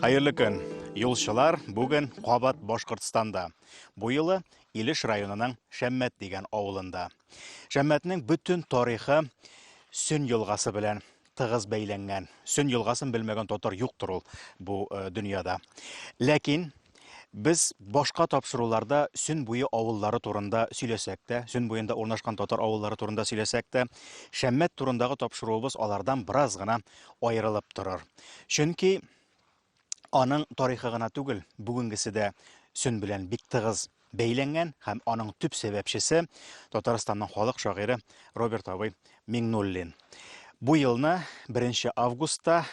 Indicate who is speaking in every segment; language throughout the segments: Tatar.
Speaker 1: Хәерле көн, юлчылар, бүген кабат Башкортстанда. Бу юлы Илеш районының Шәммәт дигән авылында. Шәммәтнең бөтен тарихы Сөн елгасы белән тыгыз бәйләнгән. Сөн елгасын белмәгән татар юктыр ул бу э, дөньяда. Ләкин Без башка тапшыруларда Сөн буе авыллары турында сөйләсәк тә, Сөн буенда урнашкан татар авыллары турында сөйләсәк тә, Шәммәт турындагы тапшыруыбыз алардан бераз гына аерылып торыр. Чөнки аның тарихы гына түгел, бүгенгесе дә Сөн белән бик тыгыз бәйләнгән һәм аның төп сәбәпчесе Татарстанның халык шагыйре Роберт абый Миңнуллин. Бу елны 1 августта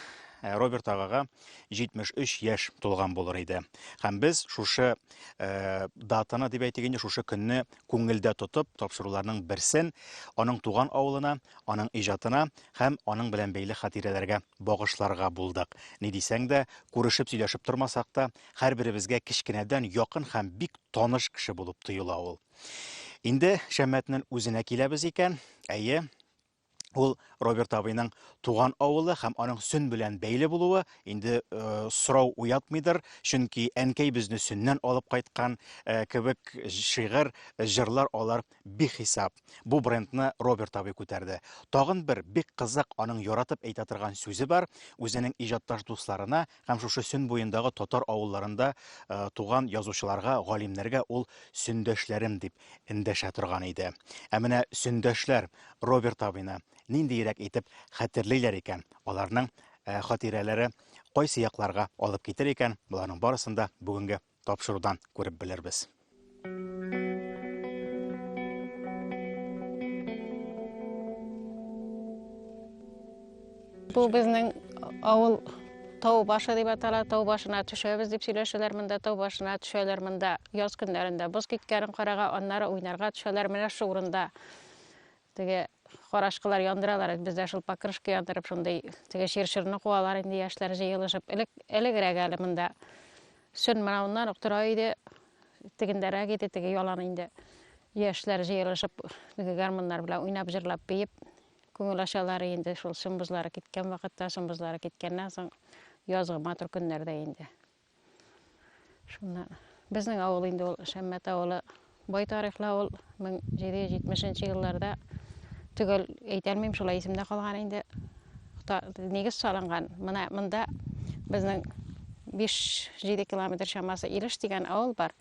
Speaker 1: Э, Роберт агага 73 яшь тулган булыр иде. Һәм без шушы э, датаны дип әйтик инде, шушы көнне күңелдә тотып, тапшыруларның берсен аның туган авылына, аның иҗатына һәм аның белән бәйле хатирәләргә багышларга булдык. Ни дисәң дә, күрешеп сөйләшеп тормасак та, Һәрберебезгә кечкенәдән якын һәм бик таныш кеше булып тоела ул. Инде Шәммәтнең үзенә киләбез икән, әйе, ул Роберт абыйның туган авылы һәм аның сөн белән бәйле булуы инде э, сорау уятмыйдыр, чөнки әнкәй безне сөннән алып кайткан э, кебек шигырь, җырлар алар бихисап. Бу брендны Роберт абый күтәрде. Тагын бер бик кызык аның яратып әйтә торган сүзе бар, үзенең иҗатташ дусларына Һәм шушы Сөн буендагы татар авылларында туган язучыларга, галимнәргә ул Сөндәшләрем дип эндәшә торган иде. Ә менә Сөндәшләр Роберт абыйны ниндиерәк итеп хәтерлиләр икән, аларның хатирәләре кайсы якларга алып китер икән, боларның барысын да бүгенге тапшырудан күреп белербез.
Speaker 2: Бу безнең авыл тау башы дип атала, тау башына төшәбез дип сөйләшәләр монда, тау башына төшәләр монда. Яз көннәрендә боз киткәнен карага, аннары уйнарга төшәләр менә шул урында. Теге карашкылар яндыралар, без дә шул покрышка яндырып, шундый теге чирширны куалар инде яшьләр җыелышып. Элек элегрәк әле монда сөн мынауыннан ук тора иде, тегендәрәк иде, теге ялан инде. Яшьләр җыелышып, теге гармуннар белән уйнап, җырлап, биеп, күңел ачалар инде шул сон бозлары киткән вакытта, сон бозлары киткәннән соң язгы матур көннәрдә инде. Шунда безнең авыл инде ул Шәммәт авылы бай тарихлы авыл 1770 елларда төгәл әйтәлмим шулай исемдә калган инде нигез салынган менә монда безнең 5-7 километр чамасы Илеш дигән авыл бар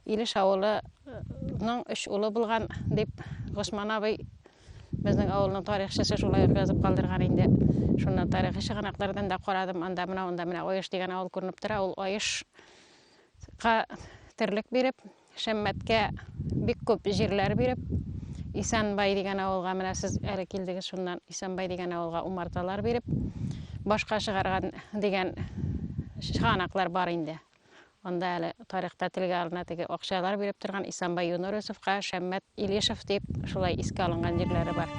Speaker 2: Илеш авылының өч улы булган дип Госман абый Безнең авылның тарихчысы шулай ук язып калдырган инде. Шуннан тарихи чыганаклардан да карадым. Анда менә анда менә Оеш дигән авыл күренеп тора. Ул Оешка терлек биреп, Шәммәткә бик күп җирләр биреп, Исәнбай дигән авылга менә сез әле килдегез шуннан Исәнбай дигән авылга умарталар биреп башка чыгарган дигән чыганаклар бар инде. Анда әле тарихта телгә алына теге акчалар биреп торган Исанбай Юнорысовка, Шәммәт Илешев дип шулай искә алынган җирләре бар.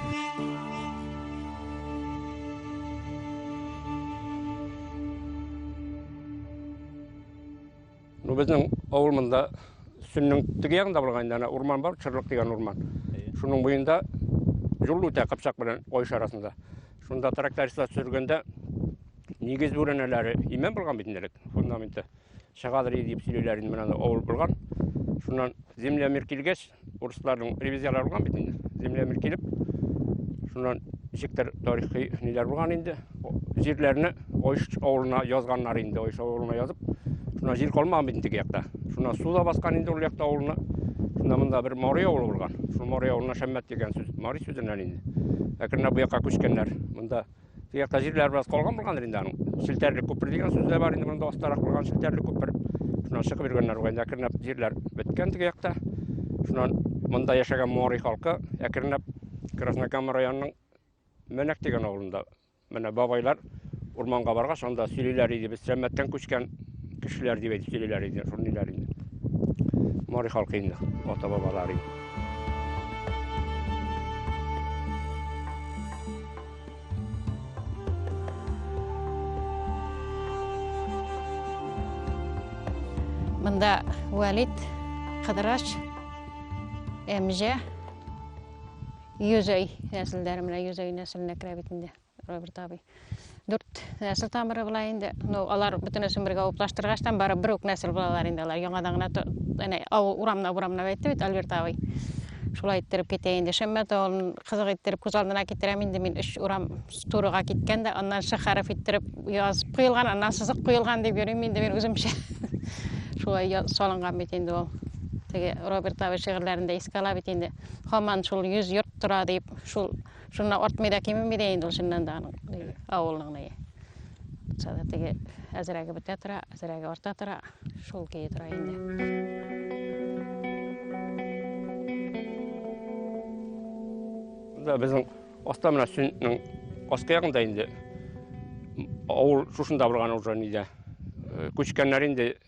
Speaker 3: Ну, безнең авыл монда Сүннең теге ягында булган инде, урман бар, Чырлык дигән урман. Шуның буенда юл үтә Кыпчак белән Ой арасында. Шунда трактористлар сөргәндә нигез бүрәнәләре имән булган бит инде фундаменты. Чыгадыр дип сөйлиләр инде менә авыл булган. Шуннан земля мир килгәч, урысларның ревизияләре булган бит инде. Земля мир килеп, шуннан ничектер тарихи ниләр булган инде. Җирләрне Ойш авылына язганнар инде, Ойш авылына язып. Шуна җир калмаган бит теге якта. Шуна су да баскан инде ул якта авылны. Шунда монда бер Мари авылы булган. Шул Мари авылына Шәммәт дигән сүз, Мари сүзеннән инде. Әкренләп бу якка күчкәннәр. Монда теге якта җирләр бераз калган булгандыр инде аның. Челтәрлек күпер дигән сүз дә бар инде монда астарак булган челтәрлек күпер. Шуннан чыгып йөргәннәр бугай. Әкренләп җирләр беткән теге якта. Шуннан монда яшәгән Мари халкы әкренләп Краснокама районының Мәнәк дигән авылында Менә бабайлар урманга баргач, анда сөйлиләр иде, без Сәммәттән күчкән кешеләр дип әйтеп сөйлиләр иде, шуны ниләр инде. Мари халкы инде, ата бабалар инде.
Speaker 2: Монда Валит, Кыдырач, Эмже, Йөзәй нәселләре менә йөзәй нәселенә керә бит инде Роберт абый. Дүрт нәсел тамыры була инде. Ну, алар бөтенесен бергә уплаштыргачтан бары бер үк нәсел булалар инде алар. Яңадан гына әнә авыл урамна урамна әйтте бит Альберт абый. Шулай иттереп китә инде. Шәммәт авылын кызык иттереп күз алдына китерәм инде мин өч урам турыга киткән дә, аннан шәхәрәф иттереп язып куелган, аннан сызык куелган дип йөрим инде мин үземчә. Шулай салынган бит инде ул. Теге Роберт абый шигырьләрендә искә ала бит инде. Хаман шул йөз йорт тора дип, шул шуннан артмый да кимеми дә инде ул чыннан да аның авылның ни. Булса да теге әзрәге бетә тора, әзрәге арта тора, шул көе тора инде.
Speaker 3: да безнең аста менә сүннең аскы ягында инде авыл шушында булган уже нидә күчкәннәр инде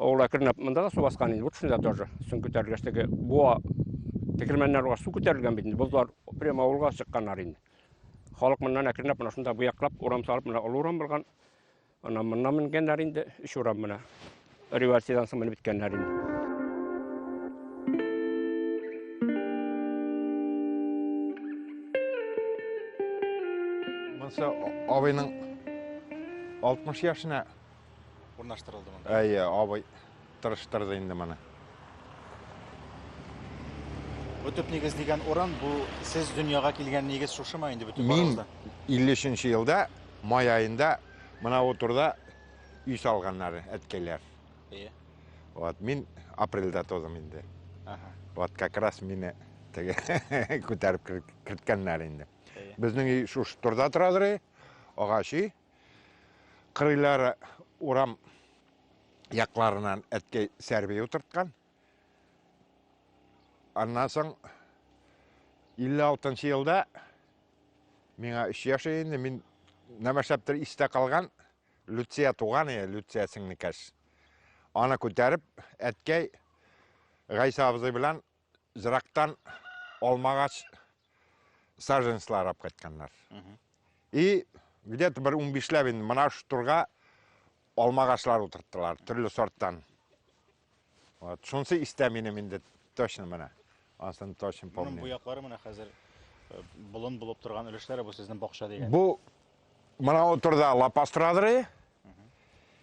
Speaker 3: Ул әкренләп монда да су баскан инде, вот шунда тоже. Сон күтәрелгәч теге буа тегермәннәр уга су күтәрелгән бит инде. Бозлар прямо авылга чыкканнар инде. Халык моннан әкренләп менә шунда буяклап урам салып, менә олы урам булган. Аннан моннан менгәннәр инде, өч урам менә. Революциядән соң менеп беткәннәр инде.
Speaker 4: Монсы абыйның 60 яшенә урнаштырылды
Speaker 1: монда. Әйе, абый
Speaker 4: тырыштырды инде моны.
Speaker 1: Бу төп нигез дигән урын, бу сез дөньяга килгән нигез шушымы инде бөтен Мин
Speaker 4: 53
Speaker 1: елда
Speaker 4: май айында мына утырда өй салганнар әткәйләр. Әйе.
Speaker 1: Вот, мин
Speaker 4: апрельдә тудым инде. Ага. Вот
Speaker 1: как раз
Speaker 4: мине теге күтәреп керткәннәр инде. Безнең өй шушы турда торадыр, агач өй. Кырыйлары урам якларынан әткәй сәрби утырткан. Аннан соң 56 елда миңа 3 яшь инде, мин нәмәшәптер истә калган Люция туган иде, Люция сеңнекәш. Аны күтәреп, әткәй Гайса абзый белән зрактан алмагач саженслар алып кайтканнар. И где-то бер 15 ләп инде мына шу турга алмагачлар утырттылар, төрле сорттан. Вот, шунсы истә минем инде точно менә. Асын точно помню. Моның буяклары менә
Speaker 1: хәзер э, болын булып торган өлешләре бу сезнең бакча дигән. Бу
Speaker 4: мына утырда лапастрадры.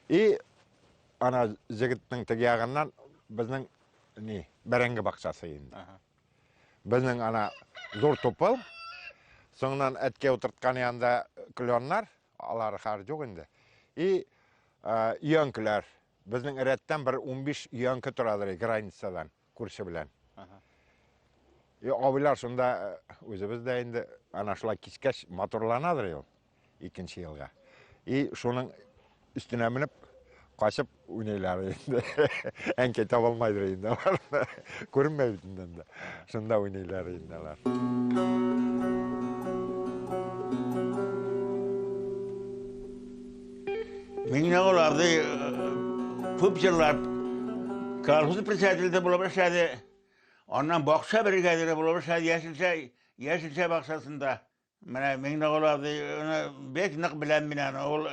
Speaker 4: И ана җегетнең теге ягыннан безнең не бәрәңге бакчасы инде безнең ана зур тупыл соңыннан әткә утырткан янында кленнар алар хәзер юк инде и өянкеләр безнең рәттән бер унбиш өянке торадыр границадан күрше белән и абыйлар шунда үзебез дә инде ана шулай кичкәч матурланадыр ел икенче елга. И шуның өстенә менеп, качып уйныйлар инде. Әнкәй таба алмыйдыр инде алар. Күренмәй бит инде. Шунда уйныйлар инде алар.
Speaker 5: Мин аларды күп җырлап колхоз председателе булып эшләде. Аннан бакча бригадиры булып эшләде, яшелчә, яшелчә бакчасында. Менә Миңнегол абыйны бик нык беләм мин аны. Ул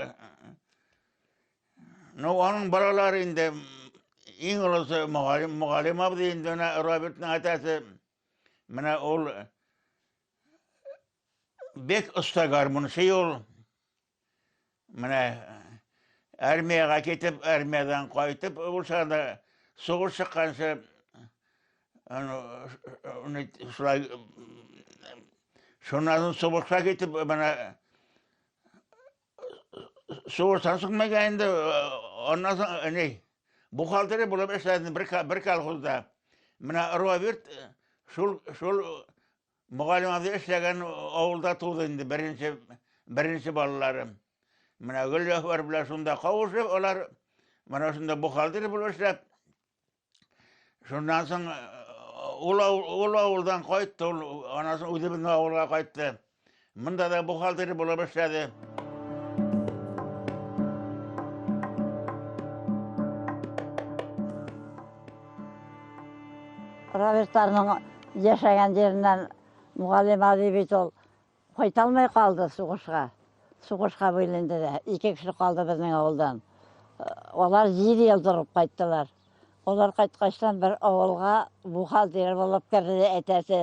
Speaker 5: Ну, аның балалары инде иң олысы мөгаллим, мөгаллим абый инде менә Робертның атасы. Менә ул бик оста гармунчы ул. Менә армиягә китеп, армиядән кайтып булса да, сугыш чыкканчы аны шулай шуннан соң сугышка китеп, менә сугыштан соң мәгә инде аннан соң ни бухгалтерия булып эшләдем бер бер колхозда. Менә Ровирт шул шул Мөгаллим абзый эшләгән авылда туды инде беренче, беренче балалары. Менә Гөлҗәфәр белән шунда кавышып, алар менә шунда бухгалтер булып эшләп, шуннан соң ул, ул авылдан кайтты, ул анасын үзебезнең авылга кайтты. Монда да бухгалтер булып эшләде.
Speaker 6: Равертарның яшәгән җиреннән мугалим Али бит ул кайталмай калды сугышка. Сугышка бүленде дә. Ике кеше калды безнең авылдан. Алар җир ел торып кайттылар. Алар кайткачтан бер авылга бухгалтер булып керде әтәсе.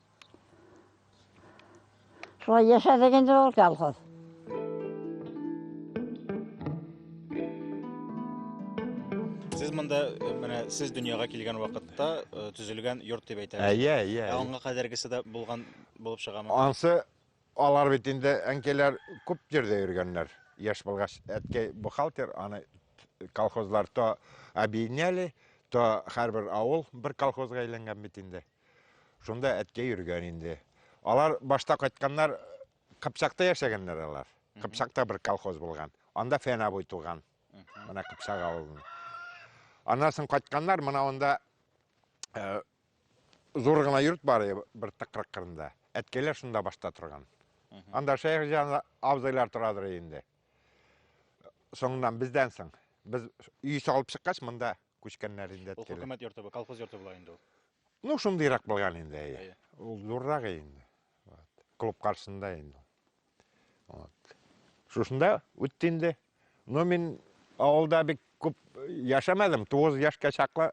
Speaker 6: Шулай яшәдек инде ул колхоз.
Speaker 1: Сез монда э, менә сез дөньяга килгән вакытта э, төзелгән йорт дип әйтәбез. Әйе, әйе. Ә аңга
Speaker 4: кадәргесе дә
Speaker 1: булган булып чыгамы? Ансы
Speaker 4: алар бит инде әнкәйләр күп җирдә йөргәннәр. Яшь булгач, әткәй бухгалтер, аны колхозлар то объединяли, то һәрбер авыл бер колхозга әйләнгән бит инде. Шунда әткә йөргән инде. Алар башта кайтканнар, Кыпчакта яшәгәннәр алар. Кыпчакта бер колхоз булган. Анда Фән абый туган. Менә Кыпчак авылын. Аннан соң кайтканнар, менә анда э, зур гына йорт бар иде бер тыкрык кырында. Әткәйләр шунда башта торган. Анда шәйх җан абзыйлар торадыр инде. Соңыннан бездән соң. Без өй салып чыккач, монда күчкәннәр инде. Ул хөкүмәт йорты, колхоз
Speaker 1: йорты
Speaker 4: була
Speaker 1: инде ул. Ну, шундыйрак
Speaker 4: булган инде, әйе. Ул зуррак инде. Вот. Клуб каршында инде. Вот. Шушында үтте инде. Но мин авылда бик күп яшәмәдем. 9 яшькә чаклы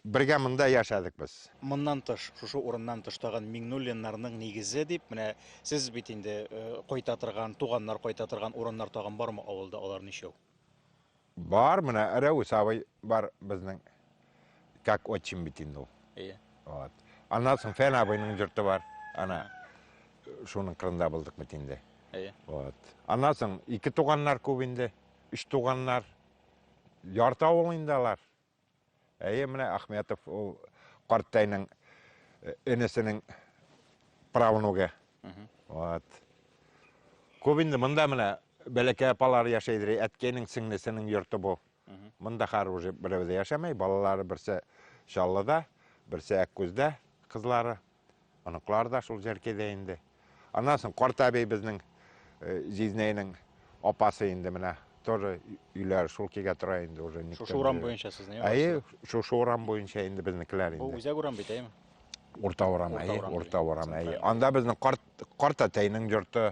Speaker 4: бергә монда яшәдек без. Моннан тыш, шушы
Speaker 1: урыннан тыш тагын Миңнуллиннарның нигезе дип, менә сез бит инде э, кайта торган, туганнар кайта торган урыннар тагын бармы авылда алар ничәү? Бар,
Speaker 4: менә әрә усавай бар безнең как отчим бит инде ул. Иә. Вот. Аннан соң Фән абыйның жорты бар. Ана шуның кырында булдык бит инде. Иә. Вот. Аннан соң ике туганнар күп инде. Үч туганнар. Ярты авыл инде алар. Әйе, менә Ахметов ул картәйнең э, энесенең правнугы. Вот. Күп инде монда менә бәләкәй апалар яшәйдер, әткәйнең сеңлесенең йорты бу. Монда хәр уже берәү дә яшәмәй, балалары берсе Чаллыда, берсе Әккүздә кызлары. Оныклар да шул җәркедә инде. Аннан соң карт әби безнең җизнәйнең апасы инде менә тоже өйләр шул кигә тора инде уже никто. Шушы урам буенча сезнең.
Speaker 1: Әйе, шушы урам
Speaker 4: буенча инде безнекеләр инде. Бу үзәк урам бит, әйеме?
Speaker 1: Урта урам,
Speaker 4: әйе, урта урам, әйе. Анда безнең карт карт әтәйнең йорты.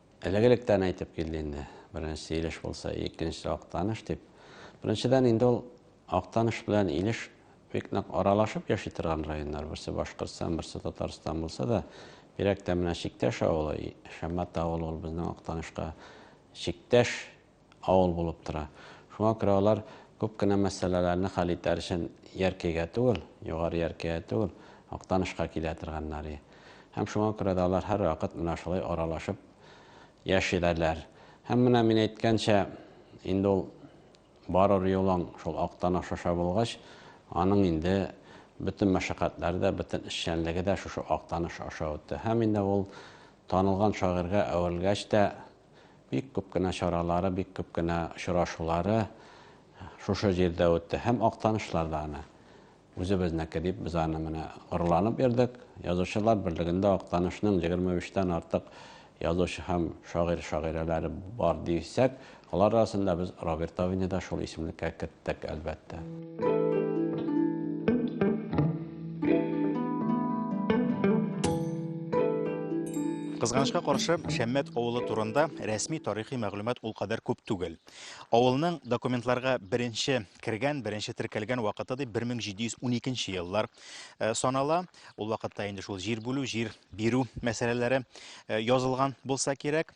Speaker 7: Элек-электән әйтеп килде инде, беренчесе Илеш булса, икенчесе Актаныш дип. Беренчедән инде ул Актаныш белән Илеш бик нык аралашып яши торган районнар. Берсе Башкортстан, берсе Татарстан булса да, бигрәк тә менә чиктәш авылы, Шәммәт авылы ул безнең Актанышка чиктәш. авыл булып тора. Шуңа күрә алар күп кенә мәсьәләләрне хәл итәр өчен Яркәйгә түгел, Югары Яркәйгә түгел, Актанышка килә торганнар и. Һәм шуңа күрә дә алар һәрвакыт менә шулай аралашып яшиләләр. Һәм менә мин әйткәнчә, инде ул барыр юлың шул Актаныш аша булгач, аның инде бөтен мәшәкатьләре дә, бөтен эшчәнлеге дә шушы Актаныш аша үтте. Һәм инде ул танылган шагыйрьгә әверелгәч тә, Бик күп кенә чаралары, бик күп кенә очрашулары шушы җирдә үтте. Һәм Актанышлар да аны үзебезнеке дип, без аны менә горурланып йөрдек. Язучылар берлегендә Актанышның 23 тан артык язучы һәм шагыйрь-шагыйрәләре бар дисәк, алар арасында без Роберт Авини да шул исемлеккә кертәбез. Тик әлбәттә.
Speaker 1: Кызганычка каршы, Шәммәт авылы турында рәсми тарихи мәгълүмат ул кадәр күп түгел. Авылның документларга беренче кергән, беренче теркәлгән вакыты дип 1712 еллар э, санала. Ул вакытта инде шул җир бүлү, җир бирү мәсьәләләре э, язылган булса кирәк.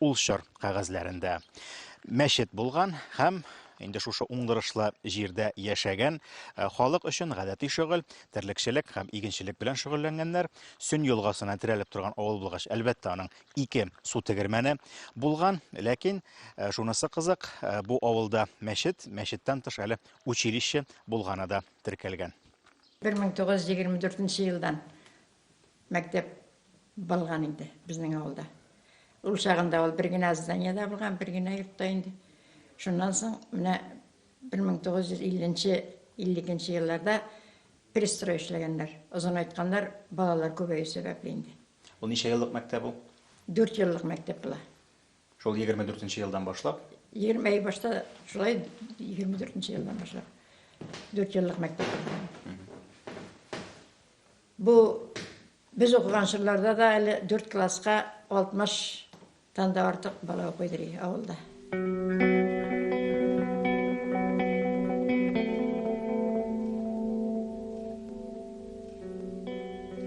Speaker 1: Ул чор кәгазьләрендә мәчет булган һәм инде шушы уңдырышлы җирдә яшәгән э, халык өчен гадәти шөгыль, терлекчелек һәм игенчелек белән шөгыльләнгәннәр. Сөн елгасына терәлеп торган авыл булгач, әлбәттә, аның ике су тегермәне булган. Ләкин э, шунысы кызык, э, бу авылда мәчет, мәчеттән тыш әле училище булганы да теркәлгән.
Speaker 8: 1924 елдан мәктәп булган инде безнең авылда. Ул чагында ул бер генә зданиедә булган, бер генә йортта инде. Шуннан соң менә 1950-52 елларда перестрой эшләгәннәр. Озын айтканнар, балалар күбәю сәбәпле инде. Ул ничә еллык
Speaker 1: мәктәп ул? Дүрт еллык
Speaker 8: мәктәп була. Шул 24
Speaker 1: нче елдан башлап? 20 әй башта
Speaker 8: шулай 24 нче елдан башлап. Дүрт еллык мәктәп булган. Бу без укыган чорларда да әле дүрт класска 60 тан да артык бала укыйдыр и авылда.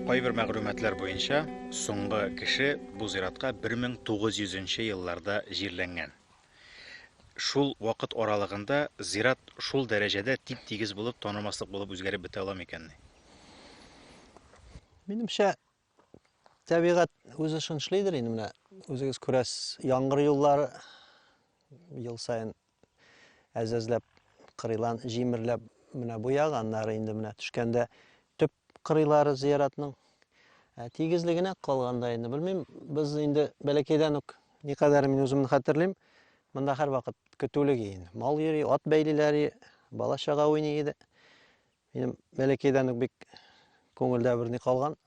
Speaker 1: Кайбер мәгълүматлар буенча, соңгы кеше бу зиратка 1900 нче елларда җирләнгән. Шул вакыт аралыгында зират шул дәрәҗәдә тип-тигез булып, танымаслык булып үзгәреп бетә ала микәнни?
Speaker 9: Минемчә, тәбигать үз эшен эшлидер инде менә үзегез күрәсез яңгыр юллары ел саен әзәзләп кырыйлан җимерләп менә бу ягы аннары инде менә төшкәндә төп кырыйлары зыяратның Ә тигезлегенә калганда инде белмим, без инде бәләкәйдән үк никадәр мин үземне хәтерлим, монда һәрвакыт көтүлек иде. Мал йөри, ат бәйлиләр, бала чага уйный иде. Минем бәләкәйдән үк бик күңелдә бер ни калган.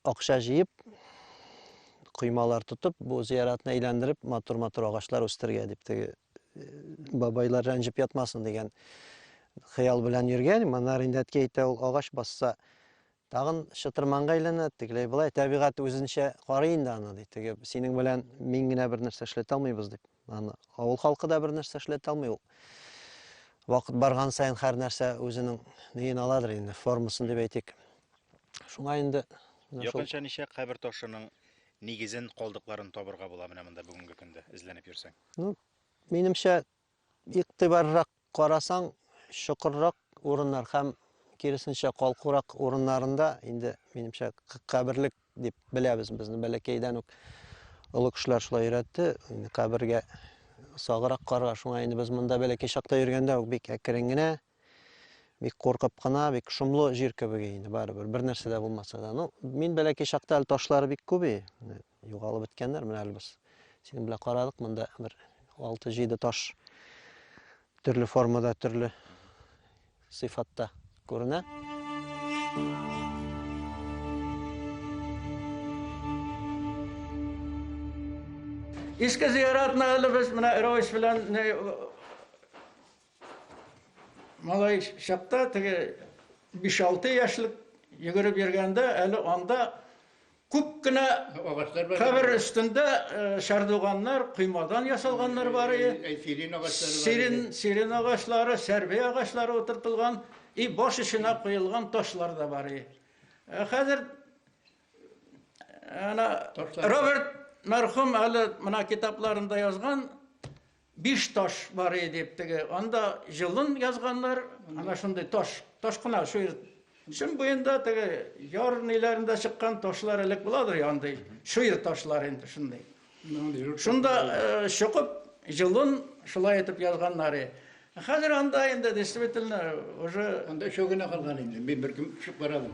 Speaker 9: Акча җыеп, коймалар тотып, бу зияратны әйләндереп, матур-матур агачлар үстергә дип теге бабайлар рәнҗеп ятмасын дигән хыял белән йөргән. Монар инде әткәй әйтә, ул агач басса, тагын чытырманга әйләнә, тегеләй болай табигать үзенчә карый инде аны ди. Теге синең белән мин генә бер нәрсә эшләтә алмыйбыз дип. Аны авыл халкы да бер нәрсә эшләтә алмый ул. Вакыт барган саен һәр нәрсә үзенең неен аладыр инде, формасын дип әйтик. Шуңа инде Якынча ничә
Speaker 1: кабер ташының нигезен, калдыкларын табырга була менә монда бүгенге көндә эзләнеп йөрсәң? Ну,
Speaker 9: минемчә, игътибаррак карасаң, чокыррак урыннар һәм киресенчә калкурак урыннарында инде, минемчә, каберлек дип беләбез безне бәләкәйдән үк олы кешеләр шулай өйрәтте, инде кабергә сагырак карга, шуңа инде без монда бәләкәй чакта йөргәндә үк бик әкрен генә, бик куркып кына, бик шомлы җир кебек инде барыбер, бер нәрсә дә булмаса да. Ну, мин бәләкәй чакта әле ташлары бик күп и, Югалып беткәннәр менә әле без. Синең белән карадык монда бер 6-7 таш төрле формада, төрле сыйфатта күренә.
Speaker 5: Иске зиярәтне әле без менә Равис белән малай чакта теге 5-6 яшьлек йөгереп йөргәндә әле анда Күп кенә кабер өстендә чардуганнар, коймадан ясалганнар бар и, сирен агачлары, сәрбе агачлары утыртылган и баш эченә коелган ташлар да бар и. Хәзер Роберт мәрхүм әле менә китапларында язган, Биш таш бар и дип теге, анда җылын язганнар, ана шундый таш, таш кына шуер. Шым буенда теге яр ниләрендә чыккан ташлар элек буладыр я андый, шуер ташлар инде шундый. Шунда э, чокып җылын шулай итеп язганнар и. Хәзер анда инде действительно уже Анда өчәү генә калган
Speaker 10: инде. Мин бер кем төшеп карадым.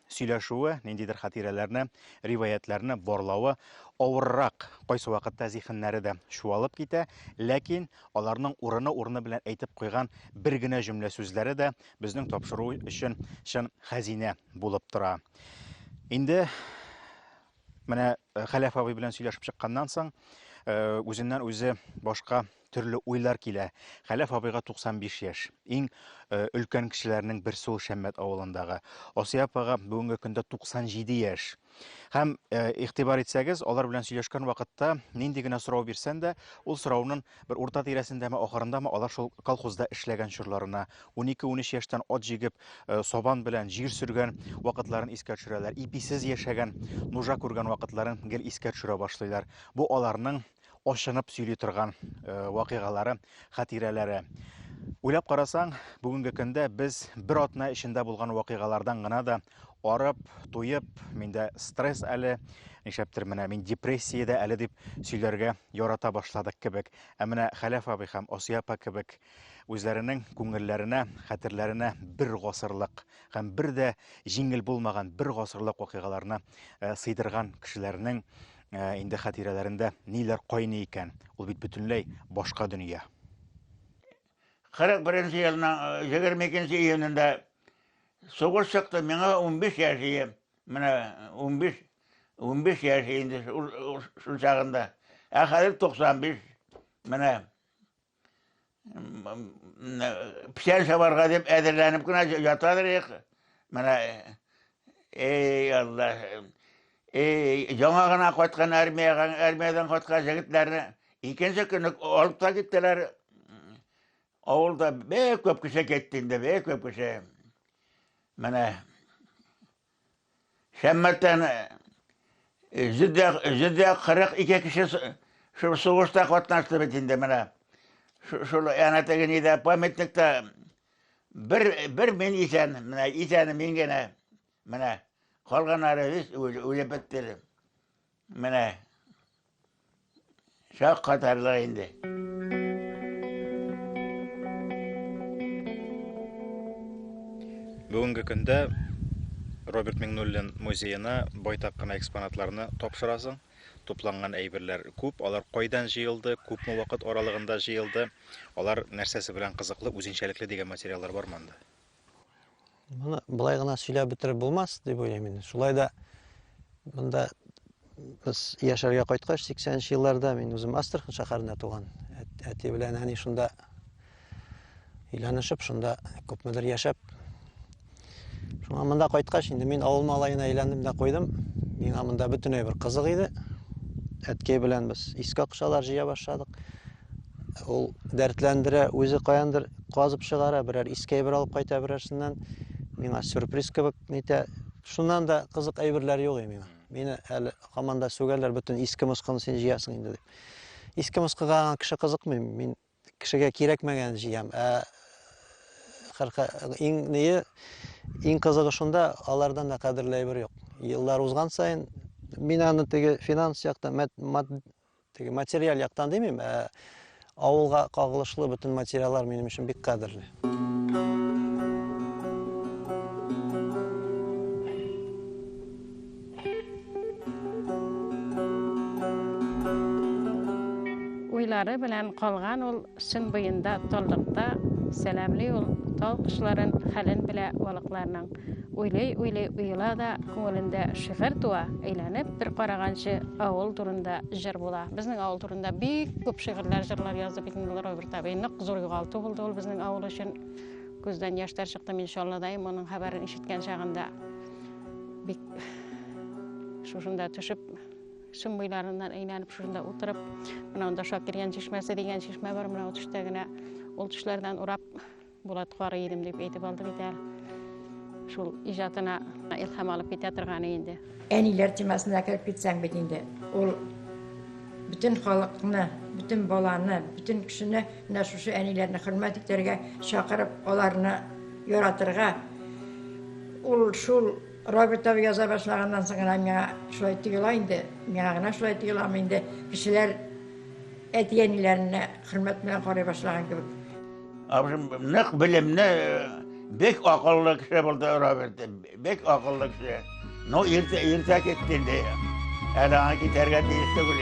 Speaker 1: сөйләшүе, ниндидер хатирәләрне, риваятьләрне барлавы авыррак. Кайсы вакытта зихеннәре дә чуалып китә, ләкин аларның урыны-урыны белән әйтеп куйган бер генә җөмлә сүзләре дә безнең тапшыру өчен чын хәзинә булып тора. Инде Менә э, Хәләф абый белән сөйләшеп чыкканнан соң, э, үзеннән үзе башка төрле уйлар килә. Хәләф абыйга 95 яшь. Иң э, өлкән кешеләрнең берсе ул Шәммәт авылындагы. Асия апага бүгенге көндә 97 яшь. Һәм игътибар итсәгез, алар белән сөйләшкән вакытта нинди генә сорау бирсән дә, ул сораунын Бер урта тирәсендәме, ахырындамы алар шул колхозда эшләгән чорларына, унике-унөч яшьтән ат җигеп, э, сабан белән җир сөргән вакытларын искә төшерәләр. Иписез яшәгән, нужа күргән вакытларын гел искә төшерә башлыйлар. Бу аларның ачынып сөйли торган э, вакыйгалары, хатирәләре. Уйлап карасаң, бүгенге көндә без бер атна эчендә булган вакыйгалардан гына да Арып, туеп, миндә стресс әле, нишләптер менә мин депрессиядә әле дип сөйләргә ярата башладык кебек. Ә менә Хәләф абый һәм Асия апа кебек үзләренең күңелләренә, хәтерләренә бер гасырлык һәм бер дә җиңел булмаган бер гасырлык вакыйгаларны э, сыйдырган кешеләрнең э, инде хатирәләрендә ниләр кайный икән? Ул бит бөтенләй башка дөнья. 41
Speaker 5: елның 22 июнендә Сугыш чыкты, миңа унбиш яшь ие, менә унбиш, унбиш яшь инде шул чагында. Ә хәзер туксан биш, менә печән чабарга дип әзерләнеп кенә ятадыр их. Менә, эй, Алла, эй, яңа гына кайткан армиягә, армиядән кайткан җегетләрне икенче көнне алып та киттеләр, Авылда бик күп кеше китте инде, бик күп кеше. Менә Шәммәттән җөдә кырык ике кеше шул сугышта катнашты бит инде менә. Шул әнә теге нидә памятникта бер бер мин исән, менә исән мин генә. Менә калганнары үз үзе бетте. Менә шак катарлык инде.
Speaker 1: Бүгенге көндә Роберт Миңнуллин музеена байтак кына экспонатларны тапшырасың. Тупланган әйберләр күп, алар кайдан җыелды, күпме вакыт аралыгында җыелды, алар нәрсәсе белән кызыклы, үзенчәлекле дигән материаллар бар монда.
Speaker 9: Моны былай гына сөйләп бетереп булмас дип уйлыйм инде. Шулай да монда без яшәргә кайткач 80 нче елларда мин үзем Астрахань шәһәрендә туган. Әти белән әни шунда өйләнешеп, шунда күпмедер яшәп. Шуңа монда кайткач инде мин авыл малаена әйләндем дә куйдым. Миңа монда бөтенләй бер кызык иде. Әткәй белән без искә акчалар җыя башладык. Ул дәртләндерә, үзе каяндыр казып чыгара, берәр иске әйбер алып кайта берәрсеннән. Миңа сюрприз кебек нитә. Шуннан да кызык әйберләр юк миңа. Мине әле һаман да сүгәләр, бөтен иске москыны син җыясың инде дип. Иске москыга кеше кызыкмый, мин кешегә кирәкмәгән җыям. Ә хәрка иң ние иң кызыгы шунда, алардан да кадерле әйбер юк. Еллар узган саен мин аны теге финанс яктан, Теге материаль яктан димим, ә авылга кагылышлы бөтен материаллар минем өчен бик кадерле.
Speaker 2: Уйлары белән калган ул Чың буенда, таллыкта Сәламли ул тал кошларын, Хәлен белә балыкларның. Уйлый-уйлый уела да, Күңелендә шигырь туа, Әйләнеп бер караганчы, Авыл турында җыр була. Безнең авыл турында бик күп шигырьләр, җырлар язды бит инде Роберт абый. Нык зур югалту булды ул безнең авыл өчен. Күздән яшьтәр чыкты, мин Чаллыдайым, моның хәбәрен ишеткән чагында. Бик шушында төшеп, Шым буйларыннан әйләнеп шунда утырып, менә анда Шакиргән чишмәсе дигән чишмә бар, менә ул төштә генә. Ул төшләрдән урап Булат карый идем дип әйтеп алды бит әле. Шул иҗатына илһам алып китә торганы инде. Әниләр темасына
Speaker 8: кереп китсәң бит инде. Ул бүтән халыкны, бүтән баланы, бүтән кешене менә шушы әниләрне хөрмәт итәргә чакырып, аларны яратырга. Ул шул Роберт абый яза башлаганнан соң гына миңа шулай тоела инде. Миңа гына шулай тоеламы инде. Кешеләр әти-әниләренә хөрмәт белән карый башлаган кебек. Абыйым
Speaker 5: нык белемне, бик акыллы кеше булды Роберт. Бик акыллы кеше. Ну, иртә иртә китте инде. Әле аңа китәргә тиеш түгел.